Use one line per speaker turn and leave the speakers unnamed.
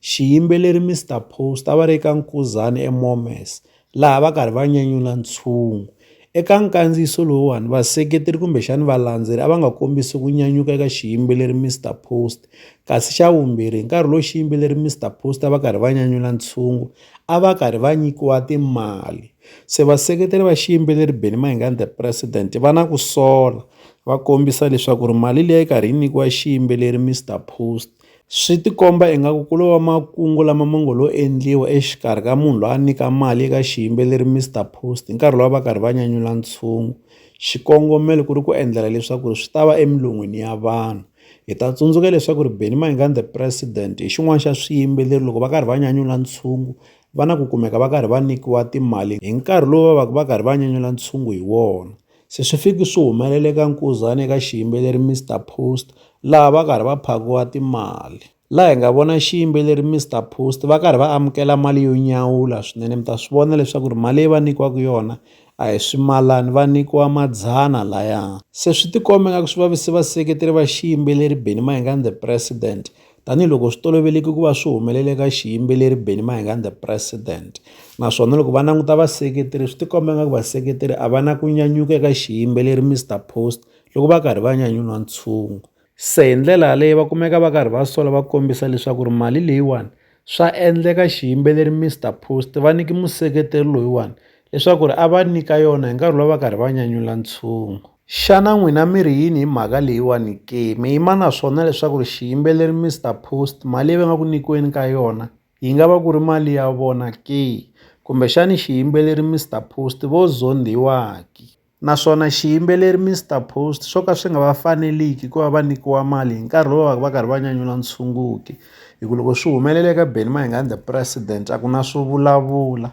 Xiyimbeleri Mister Post a va ri eka Nkhuzani eMomes laha va karhi va nyanyula ntshungu. Eka nkandziyiso lowuwani vaseketeri kumbexani valandzeri a va nga kombisi ku nyanyuka eka xiyimbeleri Mister Post kasi xa vumbirhi hi nkarhi lowu xiyimbeleri Mister Post a va karhi va nyanyula ntshungu a va karhi va nyikiwa timali se vaseketeri va xiyimbeleri Benny Mayengani the president va na ku sola va kombisa leswaku ri mali leyi karhi yi nyikiwa xiyimbeleri Mister Post Swi ti komba ingaku ku lo va makungu lama ma ngo lo endliwa exikarhi ka munhu loyi a nyika mali eka xiyimbeleri Mister Post hi nkarhi lowu a va karhi va nyanyula ntshungu, xikongomelo ku ri ku endlela leswaku swi ta va emilon'wini ya vanhu. Hi ta tsundzuka leswaku ri Benny Mayengani the president hi xin'wana xa swiyimbeleri loko va karhi va nyanyula ntshungu va na ku kumeka va karhi va nyikiwa timali hi nkarhi lowu va va ka va karhi va nyanyula ntshungu hi wona. Se swi fiki swi humelela eka Nkuzani eka xiyimbeleri Mister Post laha va karhi va phakiwa timali laha hi nga vona xiyimbeleri Mister Post va karhi va amukela mali yo nyawula swinene mi ta swi vona leswaku ri mali leyi va nyikiwaka yona a hi swimalana va nyikiwa madzana laya se swi tikomba nga ku swi vavise vaseketeri va xiyimbeleri Benny Mayengani the president Tanihi loko swi toloveleke ku va swi humelele ka xiyimbeleri Benny Mayengani the president. Naswona loko va languta vaseketeri swi ti komba nga ku vaseketeri a va na ku nyanyuka eka xiyimbeleri Mister Post, loko va karhi va nyanyula ntshungu. Se hi ndlela yaleyo va kumeka va karhi va sola va kombisa leswaku ri mali leyiwani, swa endleka xiyimbeleri Mister Post va nyike museketeri loyiwani leswaku ri a va nyika yona hi nkarhi lowu va karhi va nyanyula ntshungu. Xana n'wina mi ri yini hi mhaka leyiwani ke? Mi yima na swona leswaku ri xiyimbeleri Mister Post mali leyi va nga ku nyikiweni ka yona yi nga va ku ri mali ya vona ke? Kumbexani xiyimbeleri Mister Post vo zondhiwa ke? Naswona xiyimbeleri Mister Post swo ka swi nga va faneliki ku va va nyikiwa mali hi nkarhi lowu va va karhi va nyanyula ntshungu ke? Hi ku loko swi humelela eka Benny Mayengani the president a ku na swo vulavula.